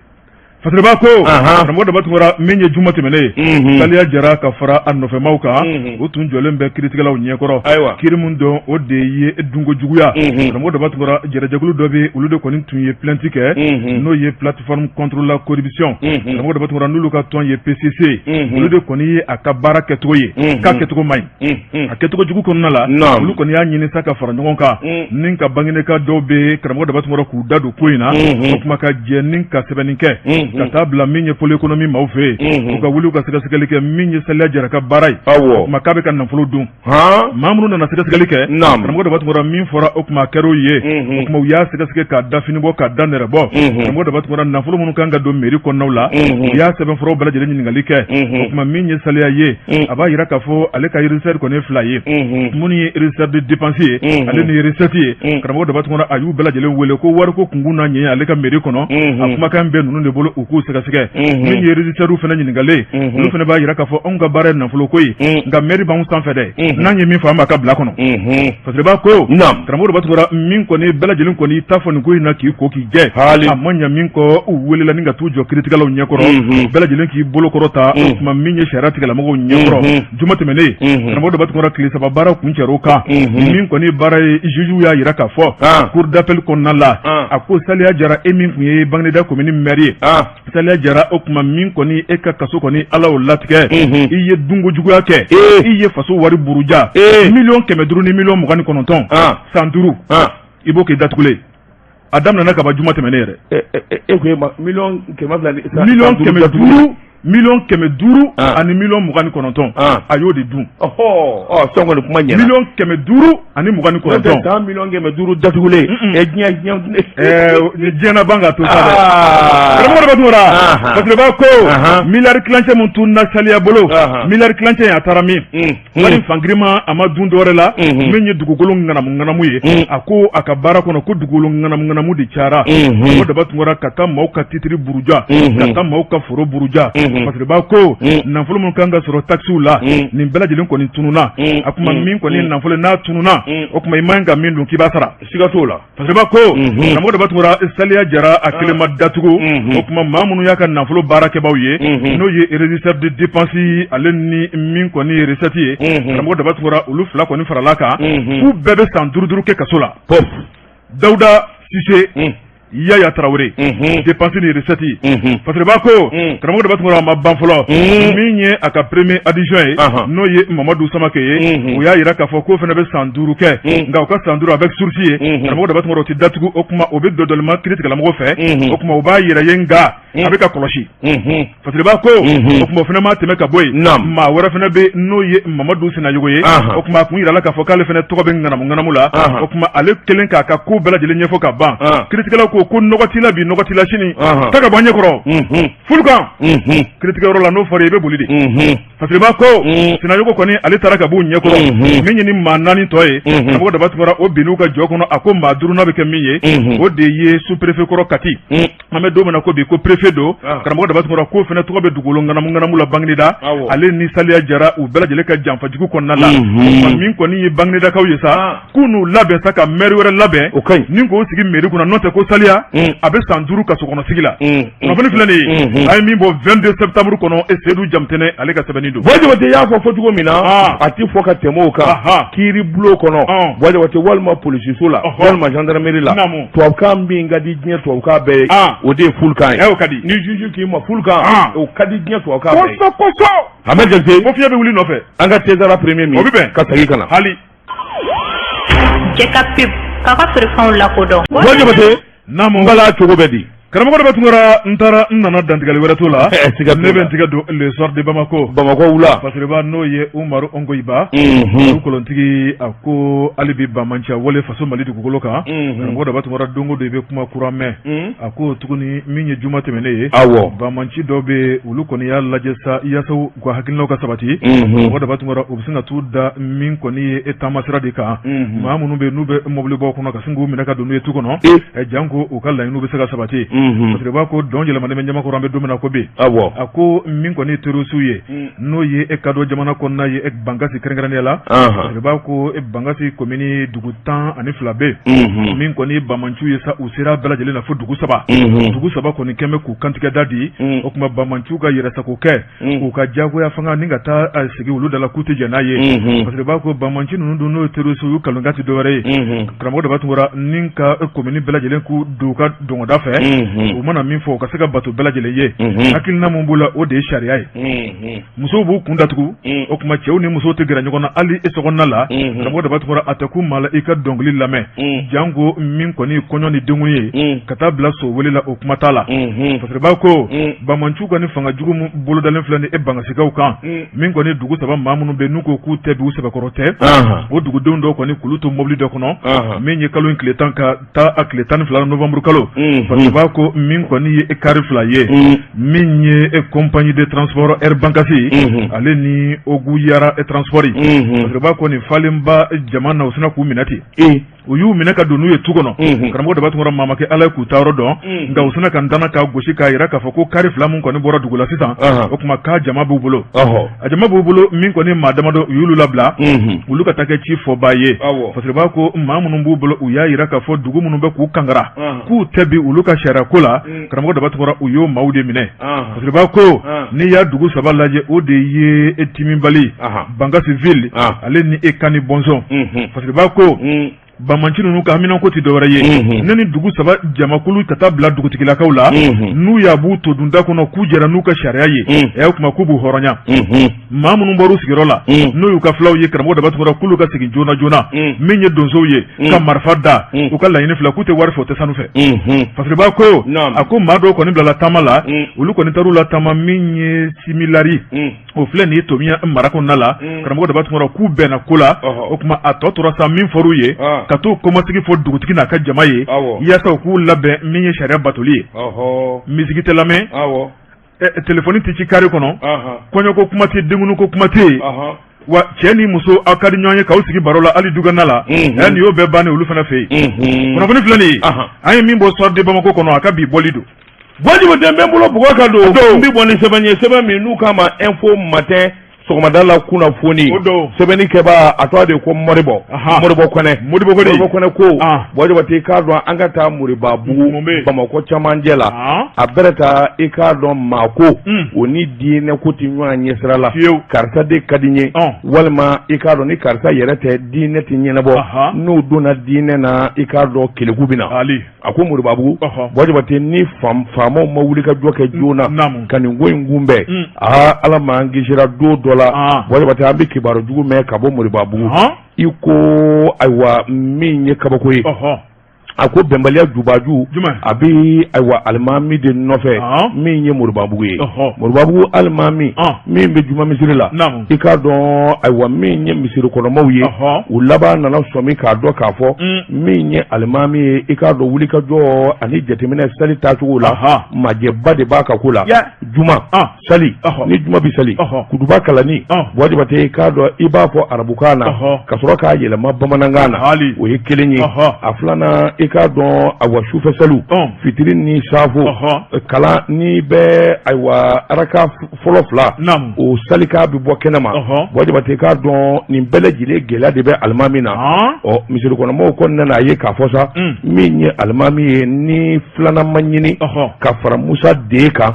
S1: Fasiriba ko karamɔgɔ daba tunkara min ye juma tɛmɛnen saliya jara ka fara a nɔfɛmaaw kan o tun jɔlen bɛ kiritigɛlaw ɲɛkɔrɔ ayiwa kiri min don o de ye dunko juguya karamɔgɔ daba tunkara jɛrɛjɛkulu dɔ bɛ olu de kɔni tun ye plainte kɛ n'o ye plateforme contre la corruption karamɔgɔ daba tunkara n'olu ka tɔn ye PCC olu de kɔni ye a ka baara kɛcogo ye k'a kɛcogo man ɲi a kɛcogo jugu kɔnɔna la olu kɔni y'a ɲini sa ka fara ɲɔgɔn kan ni ka banginidaka dɔw bɛ karamɔgɔ daba tunkara k'u da don ko in na o kuma ka jɛ ni ka sɛbɛnni kɛ ka taa bila min ye pôle économique maaw fɛ yen u ka wuli u ka sɛgɛsɛgɛli kɛ min ye saliya jara ka baara ye o kuma k'a bɛ ka nafolo dun maa minnu nana sɛgɛsɛgɛli kɛ karamɔgɔ daba tunkara min fɔra o kuma kɛra o ye o tuma u y'a sɛgɛsɛgɛ k'a da fini bɔ k'a da nɛrɛ bɔ karamɔgɔ daba tunkara nafolo minnu kan ka don mɛri kɔnɔnaw la u y'a sɛbɛnfuraw bɛɛ lajɛlen ɲininkali kɛ o tuma min ye saliya ye a b'a yira k'a fɔ ale ka régisseur kɔni ye fila ye minnu ye régisseur de dépense ye ale ni recette ye karamɔgɔ daba tunkara a y'u bɛɛ lajɛlen wele ko wariko kunkun n'a ɲɛɲɛ ale ka mɛri kɔnɔ o kuma k'a bɛ ninnu de bolo u k'u sɛgɛsɛgɛ min ye régisseurw fana ɲininkalen olu fana b'a yira k'a fɔ anw ka baara ye nafolo ko ye nka mɛri b'an sanfɛ dɛ n'an ye min fɔ an b'a ka bila kɔnɔ Fasiriba ko karamɔgɔ Daba Tunkara min kɔni bɛɛ lajɛlen kɔni ta fɔ nin ko in na k'i ko k'i jɛ a ma ɲa min kɔ u welela ni ka taa u jɔ kiiritigɛlaw ɲɛkɔrɔ bɛɛ lajɛlen k'i bolo kɔrɔta o tuma min ye sariya tigɛlamɔgɔ ɲɛkɔrɔ juma tɛmɛnen karamɔgɔ Daba Tunkara tile saba baara kuncɛra o kan min kɔni baara ye juge y'a jira k'a fɔ cour d'appel kɔnɔna la a ko Saliya Jara e min tun ye Bagineda commune maire ye Saliya Jara o tuma min kɔni e ka kaso kɔni Ala o latigɛ i ye dunko juguya kɛ i ye faso wari buruja e miliyɔn kɛmɛ duuru ni miliyɔn mugan ni kɔnɔntɔn san duuru i b'o kɛ i datugulen a daminɛna kaba juma tɛmɛnen
S3: yɛrɛ e miliyɔn kɛmɛ
S1: duuru miliyɔn kɛmɛ duuru ani miliyɔn mugan ni kɔnɔntɔn a y'o de dun
S3: miliyɔn kɛmɛ duuru
S1: ani mugan ni kɔnɔntɔn san miliyɔn kɛmɛ
S3: duuru datugulen ɛ diɲɛ
S1: diɲɛ diɲɛna ban ka to sa dɛ karamɔgɔ Daba Tunkara Fasiriba ko miliyari tilancɛ min tun na saliya bolo miliyari tilancɛ in a taara min wari fan girinman a ma dun dɔwɛrɛ la min ye dugukolo ŋanamu ŋanamu ye a ko a ka baara kɔnɔ ko dugukolo ŋanamu ŋanamu de cayara karamɔgɔ Daba Tunkara ka taa maaw ka titiri buruja ka taa maaw ka foro buruja Fasiriba ko nafolo min kan ka sɔrɔ takisiw la nin bɛɛ lajɛlen kɔni tununa a tuma min kɔni nafolo n'a tununa o tuma i man ka min dun k'i b'a sara siga t'o la Fasiriba ko karamɔgɔ Daba Tunkara saliya jara a kelen ma datugu o tuma maa minnu y'a ka nafolo baarakɛbaaw ye n'o ye régisseur de dépense ale ni min kɔni ye recette ye karamɔgɔ Daba Tunkara olu fila kɔni farala a kan k'u bɛɛ bɛ san duuru duuru kɛ kaso la dawuda sise yaya tarawele dépense ni recette Fasiriba ko karamɔgɔ Daba Tunkara a ma ban fɔlɔ min ye a ka premier adjoint ye n'o ye mamadu Samakɛ ye u y'a jira k'a fɔ k'o fana bɛ san duuru kɛ nka o ka san duuru avec sursis ye karamɔgɔ Daba Tunkara o tɛ datugu o kuma o bɛ dɔdɔlima kiiritigɛlamɔgɔ fɛ o tuma o b'a yɛrɛ ye nka a bɛ ka kɔlɔsi Fasiriba ko o tuma o fana ma tɛmɛ ka bɔ yen maa wɛrɛ fana bɛ n'o ye Mamadu Sinayɔgɔ ye o tuma a tun jirala k'a fɔ k'ale fana tɔgɔ bɛ ŋanamuŋanamu la o tuma ale kelen k'a ka ko bɛɛ lajɛlen ɲɛfɔ ka ban kiiritigɛla ko ko nɔgɔ t'i la bi nɔgɔ t'i la sini taa ka bɔ an ɲɛkɔrɔ fulukan kiiritigɛyɔrɔ la n'o fɔra i bɛ boli de Fasiriba ko Sinayɔgɔ kɔni ale taara ka bɔ u ɲɛkɔrɔ min ye nin maa naani tɔ ye karamɔgɔ Daba Tunkara o binn'u ka jɔ kɔnɔ a ko maa duurunan bɛ kɛ min ye o de ye sous-préfet kɔrɔ kati an bɛ don min na ko bi ko préfet don karamɔgɔ Daba Tunkara k'o fana tɔgɔ bɛ dugukolo ŋanamuŋanamu la Bagineda ale ni saliya jara u bɛɛ lajɛlen ka janfajugu kɔnɔna la min kɔni ye Baginedakaw ye sa k'u n'u labɛn sa ka maire wɛrɛ labɛn ni k'o sigi mairie kunna n'o tɛ ko Saliya a bɛ san duuru kaso kɔnɔ sigi la kunnafoni filanan ye a ye min bɔ vingt-deux septembre kɔnɔ e sedu Jamutɛnɛ ale ka sɛbɛnni don Jabate y'a fɔ fɔ cogo
S3: min na a tɛ fɔ ka tɛmɛ o kan kiiri bulon kɔnɔ Jabate walima polisiso la walima gendarmerie la tubabukan min ka di diɲɛ tubabukan bɛɛ ye ah. o de ye fulakan ye eh, o ka di ni juju
S1: k'i ma fulakan
S3: ah. o ka di diɲɛ tubabukan bɛɛ ye kosɛbɛ kosɛbɛ Ahmed
S1: Jabate ko
S3: fiɲɛ bɛ wuli nɔfɛ
S1: an ka tezara
S3: premier min o bɛ bɛn ka segin ka
S1: na hali cɛ ka
S2: pep k'a ka feerefɛnw lakodɔn wa Jabate
S3: n'a ma n bala cogo bɛ di Karamɔgɔ Daba Tunkara
S1: n taara n nana dantigɛli wɛrɛ t'o la ɛɛ siga t'o la ne bɛ n tigɛ don le soir de Bamako Bamako wula fasiriba
S3: n'o ye
S1: Umaru Ongoyiba unhun olu kolontigi a ko hali bi banmanciya wale faso Mali dugukolo kan unhun karamɔgɔ Daba Tunkara don o don i bɛ kuma kura mɛn uun a ko tuguni min ye juma tɛmɛnen ye awɔ banmanci dɔw bɛ yen olu kɔni y'a lajɛ sa yaasa u ka hakilinaw ka sabati unhun karamɔgɔ Daba Tunkara u bɛ sin ka t'u da min kɔni ye e taamasira de kan unhun maa minnu bɛ yen n'u bɛ mɔbilibaw kɔnɔ ka sin k'u minɛ ka don n'u ye tu kɔnɔ e ɛ janko u ka laɲiniw bɛ se ka sabati unhun fasiriba ko dɔn yɛlɛmanen bɛ jama kɔrɔ an bɛ don min na ko bi awɔ a ko min kɔni ye terrorisiw ye Mm. n'o ye e kadɔ jamana kɔnɔna ye e bangasi kɛrɛnkɛrɛnnenya la anhan fasiriba ko e bangasi komini dugu tan ani fila bɛ yen unhun min kɔni ye bamanciw ye sa u sera bɛɛ lajɛlen na fo dugu saba dugu saba kɔni kɛmɛ k'u kantigɛda di o kuma banmanciw ka yɛrɛsago kɛ k'u ka jagoya fanga ni ka taa sigi olu dala k'u tɛ jɛn n'a ye fasiriba ko banmanci ninnu don n'o ye terrorisiw ye u kalonka tɛ dɔwɛrɛ ye karamɔgɔ Daba Tunkara ni ka komini bɛɛ lajɛlen k'u don ka dɔnda fɛ u mana min fɔ u ka se k'a bato bɛɛ lajɛlen ye hakilina min b'u la o de ye sariya ye musow b'u kun datugu o kuma cɛw ni muso tɛ gɛrɛ ɲɔgɔn na hali i sokɔnɔna la karamɔgɔ Daba Tunkara a tɛ kun maa la i ka dɔnkili lamɛn janko min kɔni kɔɲɔ ni denkun ye ka taa bila so wele la o kuma t'a la fasiriba ko banmanciw ka nin fanga jugu min bolodalen filɛ ni e bangasikaw kan min kɔni dugu saba maa minnu bɛ n'u ko k'u tɛ bi u sɛbɛkɔrɔ tɛ o dugudenw dɔw kɔni k'olu to mobili dɔ kɔnɔ min ye kalo in tile tan ka taa a tile tan ni fila novembre kalo fasiriba ko min kɔni ye e kari fila ye min ye e compagnie de transport Air Bankasi ale ni Ogu Yara e transport fasiriba ko nin falenba jama na u sina k'u minɛ ten u y'u minɛ ka don n'u ye tu kɔnɔ karamɔgɔ Daba Tunkara maa ma kɛ Ala ye k'u taayɔrɔ dɔn nka u sina ka ntanan k'a gosi k'a yira k'a fɔ ko kari fila min kɔni bɔra dugu la sisan o kuma k'a jama b'u bolo a jama b'u bolo min kɔni maa damadɔ u y'olu labila olu ka taa kɛ cifɔbaa ye fasiriba ko maa minnu b'u bolo u y'a yira k'a fɔ dugu minnu bɛ k'u kangara k'u tɛ bi olu ka sariya ko la mm. karamɔgɔ Daba Tunkara u y'o maaw de minɛ fasiriba ko n'i y'a dugu saba lajɛ o de ye e timibali bangasi ville ale ni e Kani Bɔnsɔn fasiriba ko mm. Banmanci ninnu ka haminanko tɛ dɔwɛrɛ ye ne ni dugu saba jamakulu ka taa bila dugutigilakaw la n'u y'a b'u to dunda kɔnɔ k'u jɛra n'u ka sariya ye ɛ o kuma k'u b'u hɔrɔnya maa minnu bɔr'u sigiyɔrɔ la n'o y'u ka fulaw ye karamɔgɔ Daba Tunkara k'olu ka segin joona joona min ye donsow ye ka marifa da u ka laɲini fila k'u tɛ wari fɛ u tɛ sanu fɛ fasiriba ko a ko maa dɔw kɔni bilala taama la olu kɔni taar'u la taama min ye si lari o filɛ nin ye tomiɲan mara kɔnɔna la mm. karamɔgɔ daba tun k'u bɛnna ko la o kuma a tɔ tora sa min fɔr'u ye ah. ka t'o kɔmasegin fɔ dugutigi n'a ka jama ye yaasa u k'u labɛn min ye sariya batoli ye miziki tɛ lamɛn telefɔni tɛ ci kari kɔnɔ kɔɲɔko kuma tɛ denkundiko kuma tɛ wa cɛ ni muso aw ka di ɲɔgɔn ye k'aw sigi baro la hali dugana la ɛ mhm. nin y'o bɛɛ bannen olu fana fɛ yen mhm. kunnafoni filɛ nin ye an ye min bɔ soir de bamako kɔnɔ a ka bi bɔli don wajibu tɛ n bɛ
S3: n bolo bugɔ ka don n bɛ bɔ ni sɛbɛn ye sɛbɛn min n'u k'a ma info matin sɔgɔmada la kunnafoni sɛbɛnni kɛbaa a tɔgɔ de ko mɔribɔ mɔribɔ kɔnɛ mɔribɔ kɔnɛ mɔribɔ kɔnɛ ko ah. wajibu tɛ i k'a dɔn an ka taa moribabugu bamakɔ camancɛ la ah. a bɛrɛ taa i k'a dɔn maa ko hmm. o ni diinɛ ko tɛ ɲɔgɔn ɲɛsira la karisa de ka di n ye ah. walima i k'a dɔn ni karisa yɛrɛ tɛ diinɛ tɛ ɲɛnabɔ n'o donna diinɛ na i k'a dɔn keleku bɛ na a ko moribabugu wajibu tɛ ni faamaw ma wulikajɔ kɛ joona ka nin ko in kunbɛn mm. aa ah, ala m'an kisira don dɔ la ah. wajibu tɛ an bɛ kibaru jugu mɛn ka bɔ moribabugu i ko ayiwa min ye kabako ye a ko bɛnbaliya jubaju a bɛ ayiwa alimami de nɔfɛ min ye moribabugu ye moribabugu alimami min bɛ juma misiri la i k'a dɔn ayiwa min ye misiri kɔnɔmaw ye u laban nana sɔmi k'a dɔn k'a fɔ mm. min ye alimami ye i k'a dɔn wulikajɔ ani jateminɛ sali tacogo la majɛba de b'a ka ko la juma ah. sali ni juma bɛ sali kutuba kalanni wajibu tɛ i k'a dɔn i b'a fɔ arabukan na ka sɔrɔ k'a yɛlɛma bamanankan na o ye kelen ye a filanan i k'a dɔn ayiwa sufɛ saliw fitiri ni safo kalanni bɛ ayiwa araka fɔlɔ fila o salikan bɛ bɔ kɛnɛ ma wajibu tɛ i k'a dɔn nin bɛɛ lajɛlen gɛlɛya de bɛ alimami na ɔ misiri kɔnɔmɔgɔw kɔni nana a ye k'a fɔ sa mm. min ye alimami ye ni filanan ma ɲini ka fara musa de kan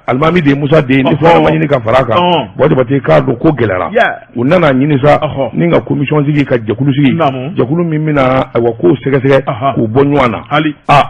S3: alimami de ye musa de ye ni filanan ma ɲini ka fara a kan wajibu tɛ i k'a dɔn ko gɛlɛyara u nana ɲini sa ni ka komisɔn sigi ka jɛkulu sigi jɛkulu min bɛna ayiwa ko sɛgɛsɛgɛ k'u bɔ ɲɔgɔn na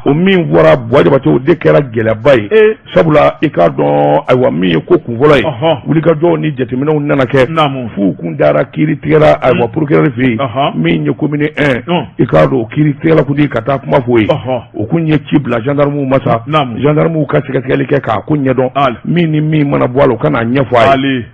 S3: o min bɔra wajibu tɛ o de kɛra gɛlɛyaba ye e. sabula i k'a dɔn ayiwa min ye ko kun fɔlɔ ye wulikajɔw ni jateminɛw nana kɛ f'u kun dara kiiritigɛla ayiwa mm. porokirɛri fɛ yen min ye komini ɛn mm. i k'a dɔn o kiiritigɛla kuntigi ka taa kuma f'o ye o kun ye ci bila zandamu ma sa zandamu ka sɛgɛsɛgɛli kɛ k'a ko ɲɛdɔn min ni min mana bɔ a la u ka n'a ɲɛfɔ a ye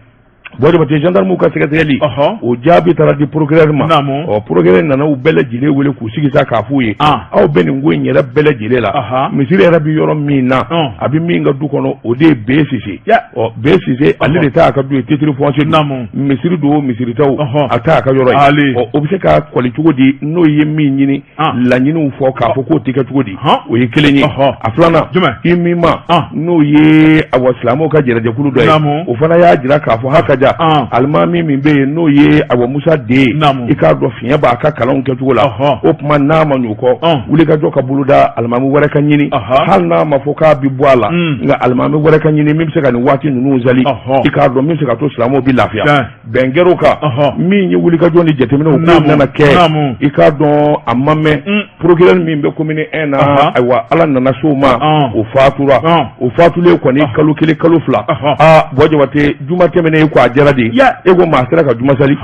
S3: Wajibu tɛ zandamuw ka sɛgɛsɛgɛli o jaabi taara di porokirɛri ma ɔ porokirɛri nana u bɛɛ lajɛlen wele k'u sigi sa k'a f'u ye aw bɛ nin ko in yɛrɛ bɛɛ lajɛlen la misiri yɛrɛ bɛ yɔrɔ min na a bɛ min ka du kɔnɔ o de ye bere sise ɔ bere sise ale de ta a ka du ye titre foncier naamu misiri don misiri ta a t'a ka yɔrɔ ye o bɛ se ka kɔli cogo di n'o ye min ɲini laɲiniw fɔ k'a fɔ k'o tɛ kɛ cogo di o ye kelen ye a filanan i min ma n'o ye awa silamɛw ka jɛnɛjɛkulu dɔ ye o fana y'a jira k'a fɔ hakaja alimami min bɛ yen n'o ye awa musa den i k'a dɔn fiɲɛ b'a ka kalanw kɛcogo la o tuma n'a ma ɲ'o kɔ wulikajɔ ka boloda alimami wɛrɛ ka ɲini hali n'a ma fɔ k'a bi bɔ a la nka alimami wɛrɛ ka ɲini min bɛ se ka nin waati ninnu sali i k'a dɔn min bɛ se ka to silamɛw bɛ lafiya bɛn kɛr'o kan min ye wulikajɔ ni jateminɛw k'o nana kɛ i k'a dɔn a ma mɛn mm. procureur min bɛ commune un na ayiwa ala nana s'o ma o fatura o fatulen kɔni kalo kelen kalo fila aa bɔ jabate juma tɛmɛnen e ko a jara de e ko maa sera ka juma sali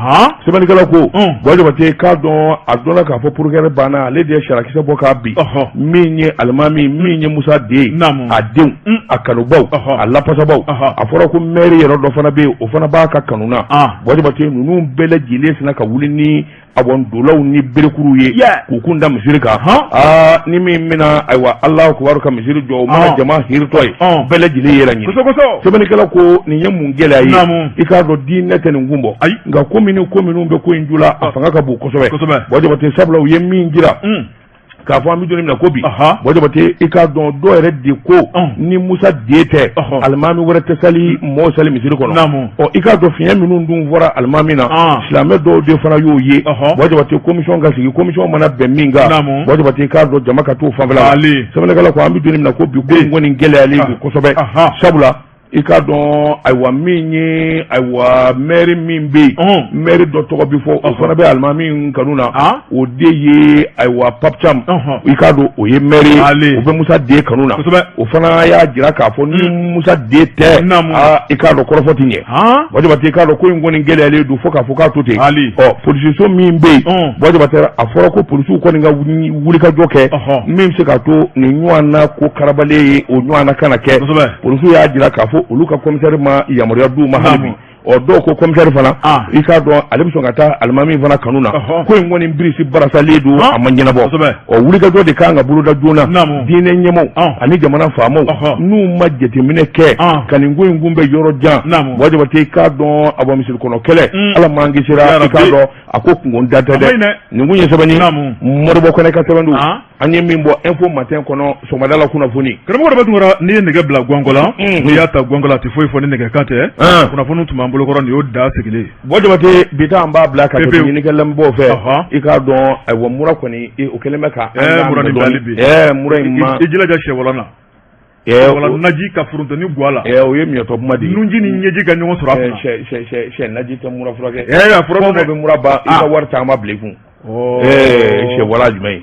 S3: sɛbɛnnikɛla ko mm. bɔ jabate k'a dɔn a dɔnna k'a fɔ procureur banna ale de ye sarakisɛ bɔ k'a bi min ye alimami min ye musa den a denw mm. a kanubaw a lafasabaw a fɔra ko mɛri yɛrɛ dɔ fana bɛ yen o fana b'a ka kanu na bɔ jabate ninnu bɛɛ lajɛlen sina ka wuli ni a dolaw ni berekuru ye k'u kun da misiri kan aa ni min bɛna ayiwa alahu akibaru ka misiri jɔ o mana jama hiritɔ ye bɛɛ lajɛlen yɛrɛ ɲini sɛbɛnnikɛla ko nin ye mun gɛlɛya ye i k'a dɔn diinɛ tɛ nin kun bɔ ayi nka ko minnu ko minnu bɛ ko in ju la a fanga ka bon kosɛbɛ bɔ jabate sabula u ye min jira k'a fɔ an bɛ don min na ko bi bɔ jabate i k'a dɔn dɔw yɛrɛ de ko ni musa den tɛ alimami wɛrɛ tɛ sali mɔɔ sali misiri kɔnɔ ɔ i k'a dɔn fiɲɛ minnu dun fɔra alimami na silamɛ dɔw de fana y'o ye bɔ jabate commission ka sigi commission mana bɛn min kan bɔ jabate i k'a dɔn jama ka t'o fanfɛla la sɛbɛnnikɛla ko an bɛ don min na ko bi ko in kɔni gɛlɛyalen don kosɛbɛ sabula i k'a dɔn ayiwa min ye ayiwa mɛri min bɛ yen mɛri dɔ tɔgɔ bɛ fɔ o fana bɛ alimami min kanu na o de ye ayiwa papi cam i k'a dɔn o ye mɛri o bɛ musa den kanu na o fana y'a jira k'a fɔ ni mm. musa den tɛ i k'a dɔn kɔrɔfɔ tɛ ɲɛ bɔ jabate i k'a dɔn ko in kɔni gɛlɛyalen don fo k'a fɔ k'a to ten ɔ polisiso min bɛ yen bɔ jabate a fɔra ko polisiw kɔni ka wulikajɔ kɛ min bɛ se k'a to nin ɲɔgɔn na ko karabalen ye o ɲɔgɔn na kana kɛ polisiw y'a jira k'a fɔ olu ka commissaire ma yamaruya d'u ma hali bi ɔ dɔw ko commissaire fana ah. i k'a dɔn ale bɛ sɔn ka taa alimami fana kanu na ko in kɔni birisi barasalen don ah. a ma ɲɛnabɔ ɔ wulikajɔ de kan ka boloda joona diinɛ ɲɛmɔw ah. ani jamana faamaw n'u ma jateminɛ kɛ ka nin ko in kunbɛn yɔrɔ jan bɔ jabate i k'a dɔn awa misiri kɔnɔ kɛlɛ mm. ala m'an kisira i k'a dɔn a ko kunkɔrɔta tɛ dɛ nin kun ye sɛbɛnni modibo kɔnɛ ka sɛbɛn don an ye min bɔ info matin kɔnɔ sɔgɔmada la kunnafoni karamɔgɔ daba tunkara n'i
S1: ye nɛgɛ bila gɔngɔ la mm. n'i y'a ta gɔngɔ la a tɛ foyi fɔ ni nɛgɛ kan tɛ ah. kunnafoni tun b'an bolo kɔrɔ nin y'o da sigilen bɔ jabate bi
S3: ta an b'a bila ka hakɛ ɲini kɛ lamɛnbaaw fɛ i k'a dɔn ayiwa mura kɔni o kɛlen bɛ ka eh, mura ni dali bi
S1: eh, mura in ma i
S3: jilaja sɛwalan na
S1: naji ka foronto ni ga la o ye miyɛtɔ kuma
S3: de ye nunji ni ɲɛji ka ɲɔgɔn
S1: sɔrɔ
S3: naji tɛ mura furakɛ bɛ mura
S1: ban i ka
S3: wari caman bila i kun sɛ wala jumɛn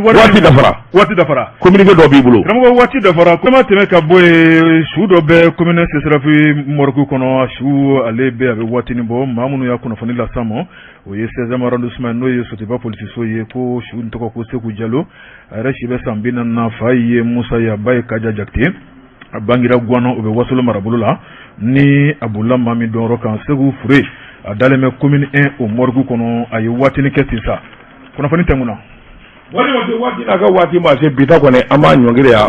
S3: waati dafara
S1: waati dafara kominike dɔ b'i
S3: bolo karamɔgɔ waati dafara
S1: kuma tɛmɛ ka bɔ yen su dɔ bɛ komini sesirafi moriku kɔnɔ su ale bɛ a bɛ waatinin bɔ maa minnu y'a kunnafoni lase an ma o ye sɛziyɛmu arɔndisiman n'o ye sotiba polisiso ye ko su in tɔgɔ ko seku jalo a yɛrɛ si bɛ san bi naani fa ye musa ye a ba ye kaja jakite a bangira gwana o bɛ wasolo marabolo la ni a bolila maa min dɔnyɔrɔ kan seku fure a dalen bɛ komini ɛn o moriku kɔnɔ a ye waatinin kɛ ten sa kunnafoni tɛmɛna waati
S3: n'a ka waati ma se bi ta kɔni an b'a ɲɔngiri yan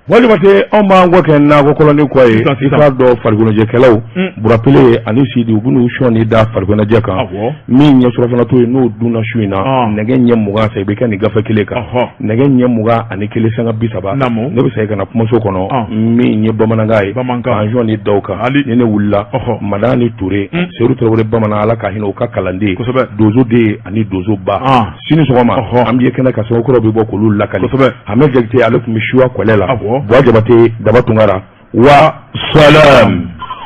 S3: buwa jabate anw b'an kɔ kɛ nakɔ kɔlɔnnin kɔ ye i k'a dɔn farikoloɲɛnajɛkɛlaw burapele ani sidi u bɛn'u sɔnin da farikoloɲɛnajɛ kan min ye surafana to ye n'o dunna su in na nɛgɛ ɲɛ mugan fɛ i bɛ kɛ nin gafe kelen kan nɛgɛ ɲɛ mugan ani kelen sanga bi saba ne bɛ segin ka na kumaso kɔnɔ min ye bamanankan ye k'an sɔnin da o kan ni ne wulila madani ture seyidu tarawele bamanan ala ka hinɛ u ka kalanden donso de ye ani donsoba sini sɔgɔma an bɛ ye kɛnɛ kan sɛbɛn kura bɛ bɔ k'olu lakali hamɛdi jakite ale tun bɛ suwa kɔlɛ la buwa jabate daba tunkara wa salam